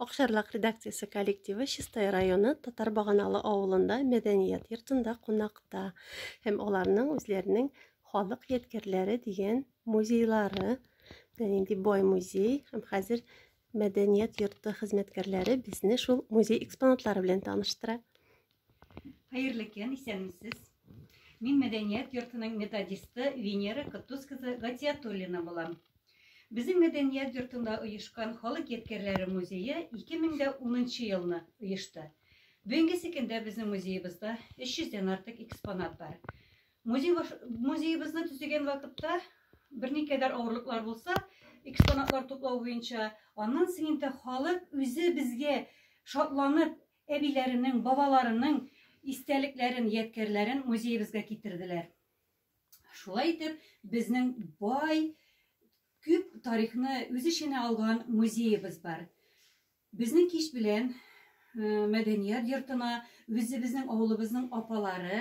Акшарлак редакциясе коллективы Чистай районы Татар Баганалы авылында мәдәният йортында кунакта һәм аларның үзләренең халык ядкәрләре дигән музейлары белән нинди бай музей һәм хәзер мәдәният йорты хезмәткәрләре безне шул музей экспонатлары белән таныштыра. Хәерле көн, исәнмесез. Мин мәдәният йортының методисты Венера Котус кызы Гатиятуллина булам. Безнең мәдәният йортында оешкан халык ядкәрләре музее 2010 елны оешты. Бүгенгесе көндә безнең музеебызда 300 дән артык экспонат бар. Музей музеебызны төзегән вакытта берникадәр авырлыклар булса, экспонатлар туплау буенча, аннан соң инде халык үзе безгә шатланып Әбиләренең, бабаларының истәлекләрен, ядкәрләрен музеебезгә китерделәр. Шулай итеп, безнең бай, күп тарихны үз эченә алган музеебыз бар. Безнең кич белән э, мәдәният йортына үзебезнең авылыбызның апалары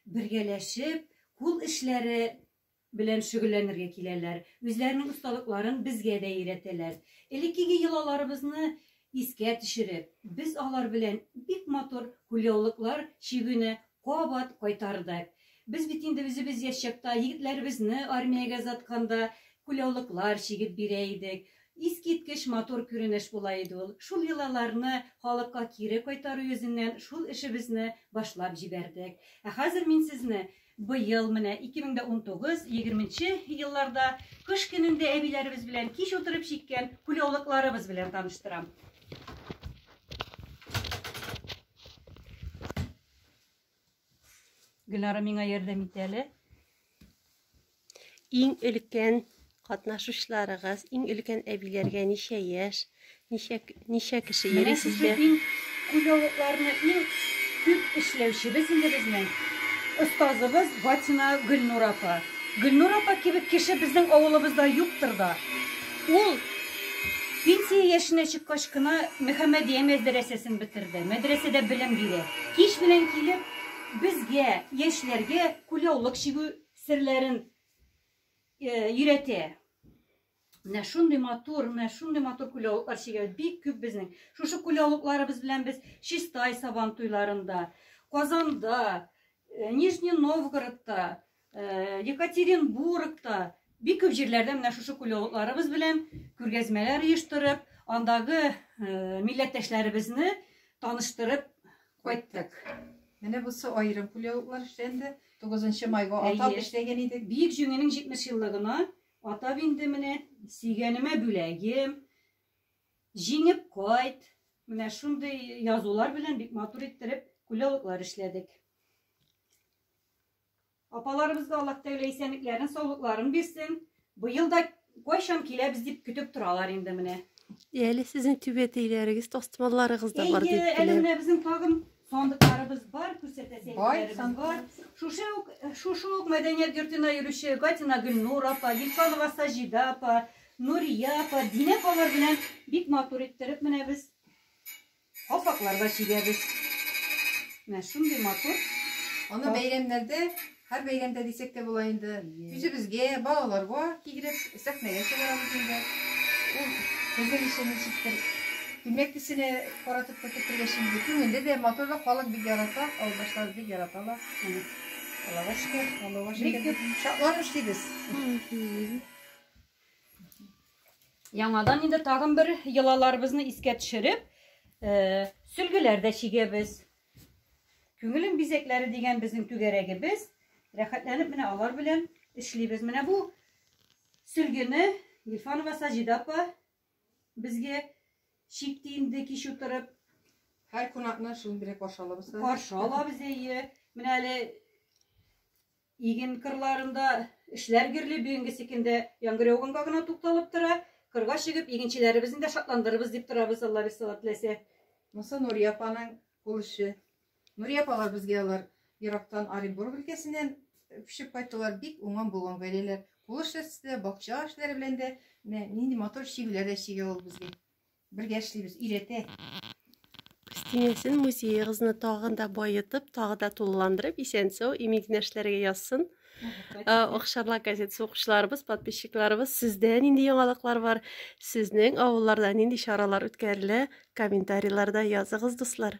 бергәләшеп, кул эшләре белән шөгыльләнергә киләләр, үзләренең осталыкларын безгә дә өйрәтәләр. Элеккеге йолаларыбызны искә төшереп, без алар белән бик матур кулъяулыклар чигүне кабат кайтардык. Без бит инде үзебез яшь чакта егетләребезне армиягә озатканда кулъяулыклар чигеп бирә идек. Искиткеч матур күренеш була иде ул. Шул йолаларны халыкка кире кайтару йөзеннән шул эшебезне башлап җибәрдек. Ә хәзер мин сезне Быел менә 2019, егерменче елларда кыш көнендә әбиләребез белән кич утырып чиккән кулъяулыкларыбыз белән таныштырам. Гөлнара миңа ярдәм итә әле. Иң өлкән катнашучыларыгыз, иң өлкән әбиләргә ничә яшь, ничә, ничә кеше йөри сезгә? Күләвекләрне иң күп эшләүчебез инде безнең остазыбыз Ватина Гөлнур апа. Гөлнур апа кебек кеше безнең авылыбызда юктыр да. Ул пенсия яшенә чыккач кына Мөхәммәдия мәдрәсәсен бетерде. Мәдрәсәдә белем бирә. Кич белән килеп, безгә, яшьләргә күләулык чигү серләрен өйрәтә. Менә шундый матур, менә шундый матур күләвыклар чигә бик күп безнең. Шушы күләвыкларыбыз белән без Чистай сабан туйларында, Казанда, э, Нижний Новгородта, э, Екатеринбургта бик күп җирләрдә менә шушы күләвыкларыбыз белән күргәзмәләр оештырып, андагы э, милләттәшләребезне таныштырып Кайттык. Менә бусы аерым кулъяулыклар эшләнде. 9 майга атап эшләгән идек. Биек җиңенең 70 еллыгына атап инде менә сөйгәнемә бүләгем. Җиңеп кайт. Менә шундый язулар белән бик матур иттереп кулъяулыклар эшләдек. Апаларыбызга Аллаһ Тәгалә исәнлекләрен, саулыкларын бирсен. Быел да кайчан киләбез дип көтеп торалар инде менә. Әле сезнең түбәтәйләрегез, тастымалларыгыз да бар дип Әйе, әле беләм. менә безнең тагын сандыкларыбыз бар, күрсәтәсе Бай әйберләребез бар. сандыклар. Шушы ук, шушы ук мәдәният йортына йөрүче Гатина Гөлнур апа, Гилфанова Саҗидә апа, Нурия апа, Динә апалар белән бик матур иттереп менә без Калфаклар да чигәбез. Менә шундый матур. Аны бәйрәмнәрдә, һәр бәйрәмдә дисәк тә була инде, үзебезгә, балаларга кигереп, сәхнәгә чыгарабыз инде. Ул безнең өчен ничектер күлмәк төсенә каратып та кертергә чигде. Күңелле дә, матур да, халык бик ярата, авылдашлар бик яраталар. Аллага шөкер, Аллага шөкер. Бик күп шатланып эшлибез. Яңадан инде тагын бер йолаларыбызны искә төшереп, э, сөлгеләр дә чигәбез. Күңелем бизәкләре дигән безнең түгәрәгебез. Рәхәтләнеп менә алар белән эшлибез. Менә бу сөлгене Гильфанова Саҗида апа безгә чикте инде кич утырып. Һәр кунакны шундый каршы алабыз. Каршы алабыз әйе. Менә әле Иген кырларында эшләр гөрли, бүгенгесе көндә яңгыр яуганга гына тукталып тора. Кырга чыгып, игенчеләребезне дә шатландырырбыз дип торабыз, Алла рисалат теләсә. Монысы Нурия апаның кул эше. Нурия апалар безгә алар ерактан Оренбург өлкәсеннән пешеп кайттылар, бик уңган булган гаиләләр. Кул эшләре дә, бакча эшләре белән дә нинди матур чигүләр дә чигә ул безгә. Бергә эшлибез, өйрәтә. Кристинәсен музеегызны тагын да баетып, тагы да тулыландырып, исән-сау, имин генә эшләргә язсын. Охшарлы э, газет укучыларыбыз, подписчикларыбыз, сездә нинди яңалыклар бар? Сезнең авылларда нинди чаралар үткәрелә? Комментарийларда языгыз, дуслар.